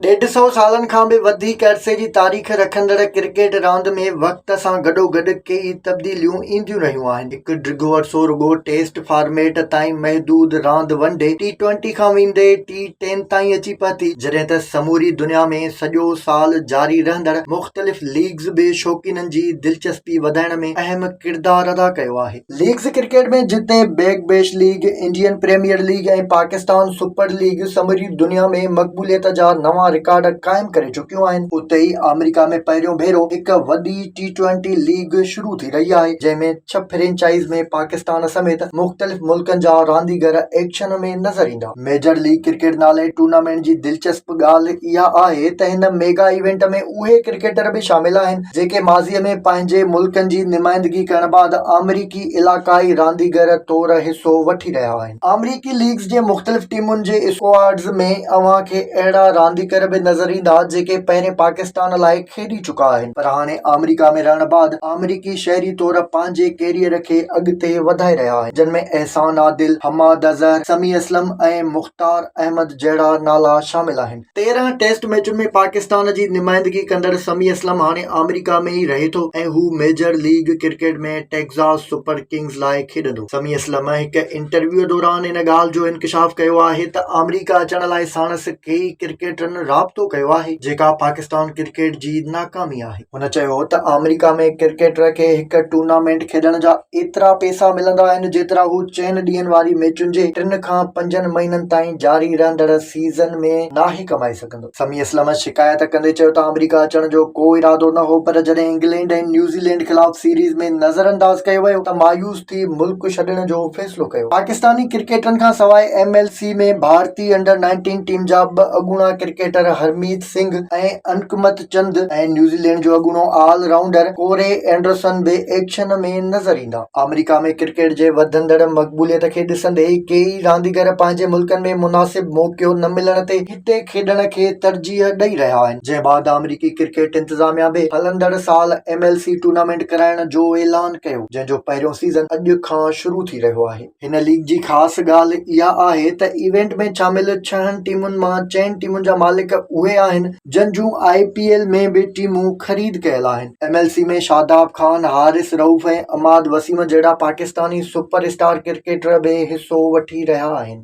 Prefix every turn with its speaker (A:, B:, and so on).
A: ڏيڍ سئو سالن کان به وڌيڪ عرصي جي تاريخ رکندڙ ڪرڪيٽ راند ۾ وقت سان گڏوگڏ ڪيئي تبديليون اينديون رهيون آهن. هڪ ڊگهو عرصو رڳو ٽيسٽ فارميٽ تائين محدود راند ون ڊي، ٽي ٽوئنٽي کان ويندي ٽي ٽين تائين اچي پهتي، جڏهن ته سموري دنيا ۾ سڄو سال جاري رهندڙ مختلف ليگز به شوقينن جي دلچسپي وڌائڻ ۾ اهم ڪردار ادا ڪيو آهي. ليگز ڪرڪيٽ ۾ جتي Big Bash League, Indian Premier League ۽ Pakistan Super League سموري دنيا ۾ مقبوليت جا نوان رڪارڊ قائم ڪري چڪيون آهن، اتي ئي آمريڪا ۾ پهريون ڀيرو هڪ وڏي ٽي ٽوئنٽي ليگ شروع ٿي رهي آهي، جنهن ۾ ڇهه فرنچائيز ۾ پاڪستان سميت مختلف ملڪن جا رانديگر ايڪشن ۾ نظر ايندا. ميجر ليگ ڪرڪيٽ نالي ٽورنامينٽ جي دلچسپ ڳالهه اها آهي ته هن ميگا ايونٽ ۾ اهي ڪرڪيٽر به شامل آهن جيڪي ماضي ۾ پنهنجي ملڪن جي نمائندگي ڪرڻ بعد آمريڪي علائقائي رانديگر طور حصو وٺي رهيا آهن آمريڪي ليگز جي مختلف ٽيمن جي اسڪواڊز ۾ اوهان کي اهڙا رانديگر به نظر ايندا جيڪي پهرين پاڪستان لاء کيڏي چڪا آهن پر هاڻي آمريڪا ۾ رهڻ بعد آمريڪي شهري طور پنهنجي ڪيريئر کي اڳتي وڌائي رهيا آهن جن ۾ احسان عادل، حماد اظهر، سميع اسلم ۽ مختار احمد جهڙا نالا شامل آهن. تيرهن ٽيسٽ ميچن ۾ پاڪستان جي نمائندگي ڪندڙ سميع اسلم هاڻي آمريڪا ۾ ئي رهي ٿو ۽ هو Major League Cricket ۾ Texas Super Kings لاء کيڏندو. سميع اسلم هڪ انٽرويو دوران ان ڳالهه جو انڪشاف ڪيو آهي ته آمريڪا اچڻ لاء ساڻس ڪيئي ڪرڪيٽرن رابطو ڪيو آهي جيڪا پاڪستان پاڪستان ڪرڪيٽ جي ناڪامي آهي. هن چيو ته آمريڪا ۾ ڪرڪيٽر کي هڪ ٽورنامينٽ کيڏڻ جا ايترا پئسا ملندا آهن جيترا هو چئن ڏينهن واري ميچن جي ٽن کان پنجن مهينن تائين جاري رهندڙ سيزن ۾ ناهي ڪمائي سگهندو. سمي اسلم شڪايت ڪندي چيو ته آمريڪا اچڻ جو ڪو ارادو نه هو پر جڏهن انگلينڊ ۽ نيوزيلينڊ خلاف سيريز ۾ نظرانداز ڪيو ويو ته مايوس ٿي ملڪ ڇڏڻ جو فيصلو ڪيو. پاڪستاني ڪرڪيٽرن کانسواء ايم ايل سي ۾ ڀارتي انڊر نائنٽين ٽيم جا ٻه اڳوڻا ڪرڪيٽر هرميت سنگهه ۽ انڪمت چند ۽ نيوزيلينڊ جو اڳوڻو آل رائونڊر ڪوري اينڊرسن به ايڪشن ۾ نظر ايندا. آمريڪا ۾ ڪرڪيٽ جي وڌندڙ مقبوليت کي ڏسندي ڪيئي رانديگر پنهنجي ملڪن ۾ مناسب موقعو نه ملڻ تي هتي کيڏڻ کي ترجيح ڏئي رهيا آهن جنهن بعد آمريڪي ڪرڪيٽ انتظاميا به هلندڙ سال ايم ايل سي ٽورنامينٽ ڪرائڻ جو اعلان ڪيو جنهن جو پهريون سيزن اڄ کان شروع ٿي رهيو آهي. هن ليگ جي خاص ڳالهه اها آهي ته ايونٽ ۾ شامل ڇهن ٽيمن مان چئن ٽيمن جا مالڪ اهي آهن جن جون آء پي ايل ۾ به ٽيمون خريد ڪيل آهن M L C ۾ Shadab Khan Haris Rauf ۽ Imad Wasim جهڙا پاڪستاني سپر اسٽار ڪرڪيٽر به حصو وٺي رهيا آهن